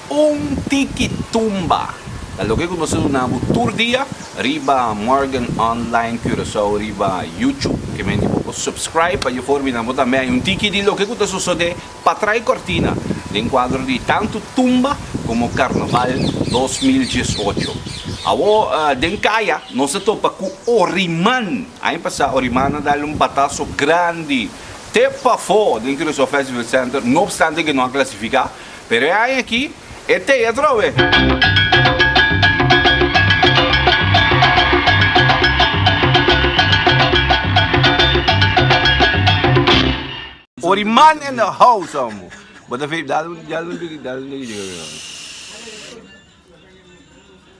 Un tiki tumba ta loke ku nos ta duna bo tur dia riba Morgan Online Curaçao riba YouTube. Ke mende bo por subscribe pa Eufori Bina bo tambe haña un tiki di loke ku ta sosode patrai kortina den kuadro di tantu tumba komo Karnaval dos mil dies ocho. Awor den kaya nos ta topa ku Oriman. Aña pasa Oriman a dal un bataso grandi. te pafó den Curaçao Festival Center, no obstante ke no a klasifiká, pero e aña aki e tei atrobe. Oriman in the house amo.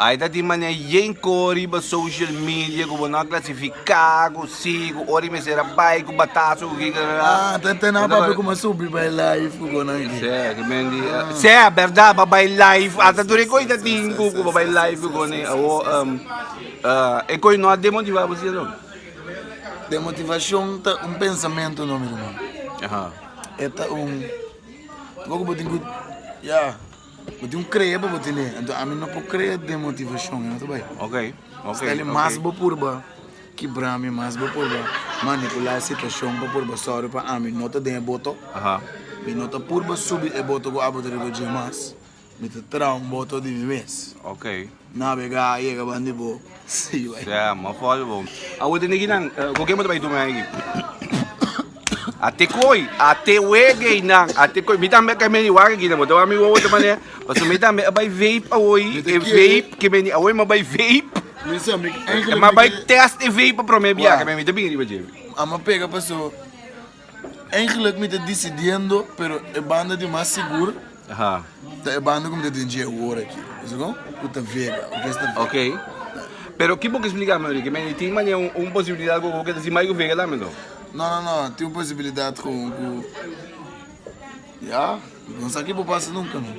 Ai ta di mane yen ko riba social media ku bo no a klasifiká ku si ku ora i mester a bai ku batazo ku kikarara. Ah, ta ta na pape kuma subi bai live ku konan aki. Sè, ke men di sè bèrdat ba bai live ata tur e koi ta tin ku ku ba bai live ku kone awo um e koi no a demotivá bo si alon. Demotivashon ta un pensamentu no mi ruman e ta un algo ku bo tin ku ya. Bo tin un crea pa bo tene anto ami no por crea den motivacion e no ta bay stali mas bo purba kibra mi mas bo purba manipula e situacion pa purba sòru pa ami no ta den e boto mi no ta purba subi e boto cu abo ta riba dje mas mi ta traha un boto di mi mes. Navega a yega ban di bo. Sí bai. Sea mo for di bo. Awo te neginan con ken bo ta bay duna aki. A te coy a te wegey nan a te coy mi tambe ke meni wak aki bo ta wak mi wowo ta mane paso mi tambe a bay vape awoy e vape ke meni awoy mi a bay vape mi a bay test e vape pa prome bia ke mi ta bini riba dje mi. Amo pega paso. Eigenlijk mi ta decidiendo pero e banda di mas sigur ta e banda cu mi ta den dje awor aki, Ziggo, cu ta Vega, orkesta Vega. Ok. Pero ki bo ke splica mi ori ke mende tin manera un posibilidad cu bo ke ta haci mai cu Vega tambe no? No, no, no, tin un posibilidad cu, cu, ya, no sa ki bo pasa nunca no.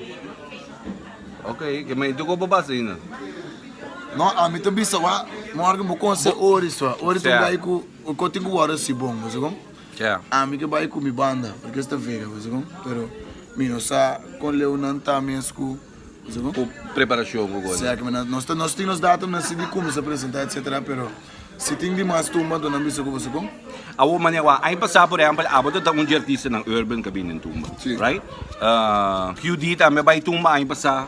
Ok, ke mende tin cu bo pasa ahinda? No, ami ta bisa, wa, morgen bo conse ori so, ori ta bay cu. Cu tin cu wordo si bon, wese con? Ami ke bay cu mi banda, porque es ta vega, wese con? Pero mi no sa con leeunan ta mes cu, wese con? Cu preparacion cu cosa. Sea, kiman nos ta, nos tin nos datumnan si di cuminsa presenta, etc. Pero si tin di mas tumba, anto nan bisa cu, wese con? Awor, mane awor, aña pasa, por ehempel, abo ta ta un dje artistanan urban ke a bini den tumba, right? Q-Dee tambe a bay tumba aña pasa.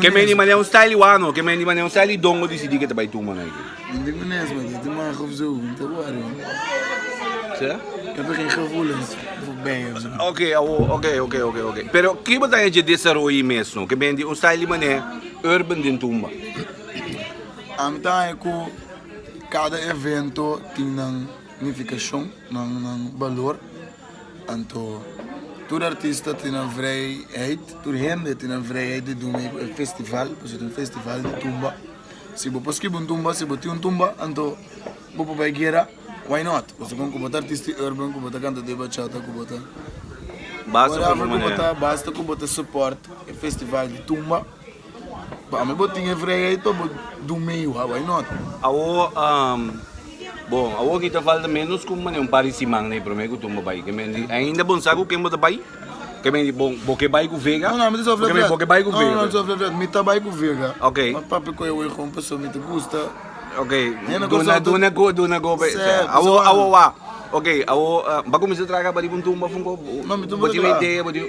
Ke meni manera un style i wano, ke meni manera un style i dongo disidi ke ta bai tuma nai ki. Nin tin ku nesma si tin maha gevoel mi ta wòrdu man. Sea? Mi ta tin gevoelens fu bèi of su. Oke awo oke oke oke oke pero ki bo ta hechi e desaroye mesno ke meni di un style di manera urban den tumba? Ami ta haña ku kada evento tin nan nifikashon nan nan balor. Anto, tur artista tin nan vrijheid, tur hende tin nan vrijheid di dun mei ku e festival, pasobra ta un festival di tumba. Si bo por skiba un tumba, si bo tin un tumba, anto bo por bai guera, why not? Pasobra kon ku bo ta artista di urban, ku bo ta kantador di bachata, ku bo ta, whatever ku bo ta, basta ku bo ta support e festival di tumba. Pa mi bo tin e frega y to bo dun mey wha why not. Awo umm bo awo ki ta falta menos cu mane un par di siman na e prome cu tumba bay kemen di ainda bo sa cu ken bo ta bay kemen di bo bo ke bay cu vega No no mi ta sofri flat bo ke bay cu vega no no mi ta sofri flat mi ta bay cu vega ok ma papi coye wee con paso mi ta gusta ok duna duna go duna go pe awo awo wha ok awo ba cuminsa traha caba riba un tumba fun bo bo tin un idea bo tin.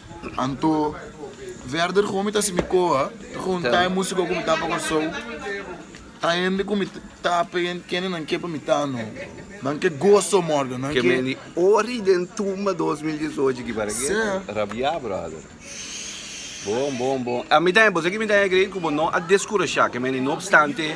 Anto, verder komo mi ta hasi mi koha, ta hunta e musiko ku mi ta pa Kòrsou, ta hende ku mi ta pa i, kendenan ke pa mi ta no. Nan ke goso morda, nan ke. Ori den tumba dos mil diesocho ki para keda. Seh. Rabiá brother. Bon bon bon. A mi tambe, bo sa ki mi ta egri? Ku bo no a deskurashá, ke meni no opstante.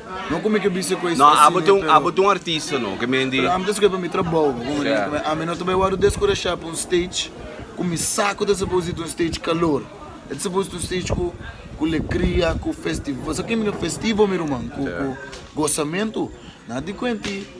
No come ke bisa koe no abo te un abo te un artista no ke men di pero ami ta skohe pa mi trabou sea ami no ta bai wòrdu deskurashá pa un stage ku mi sa ku ta suppose di ta un stage kalor e ta suppose di ta un stage ku ku lekria ku festivo sa kemi no festivo mi ruman ku ku gosamentu nan a di kuenti.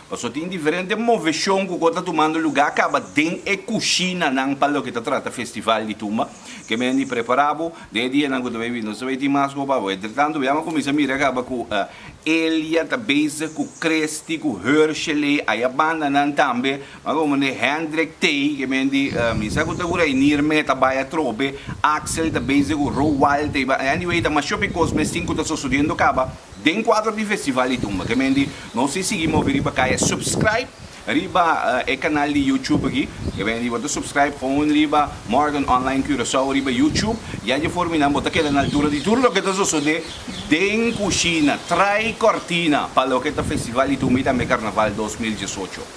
Pasobra tin diferente moveshon ku ko ta tumando lugá kaba den e kushinanan pa loke ta trata festival di tumba. Ke menen di prepará bo den e dianan ku ta bai bini. Nos ta bai tin mas hopi abo. Entretantu, biaba kuminsá mira kaba ku Elia ta bezig ku Christy, ku Hershele, ai a bandanan tambe. Manga bo manera Hendrik Tey, ke menen di Minsa ku ta ku Reinier me ta bai atrobe. Axel ta bezig ku Roald Tey. Anyway, ta mashopi kos mes tin ku ta sosodiendo kaba. Den cuadro di Festival di Dumba kemendi nos tin sigui movi riba caya subscribe riba e canal di YouTube aki kemendi bo ta subscribe gewoon riba Morgan Online Curaçao riba YouTube ya dje for mi nan bo ta keda na altura di tur loke ta sosode den cushina trae cortina pa loke ta Festival di Dumba y tambe Carnaval dos mil diesocho.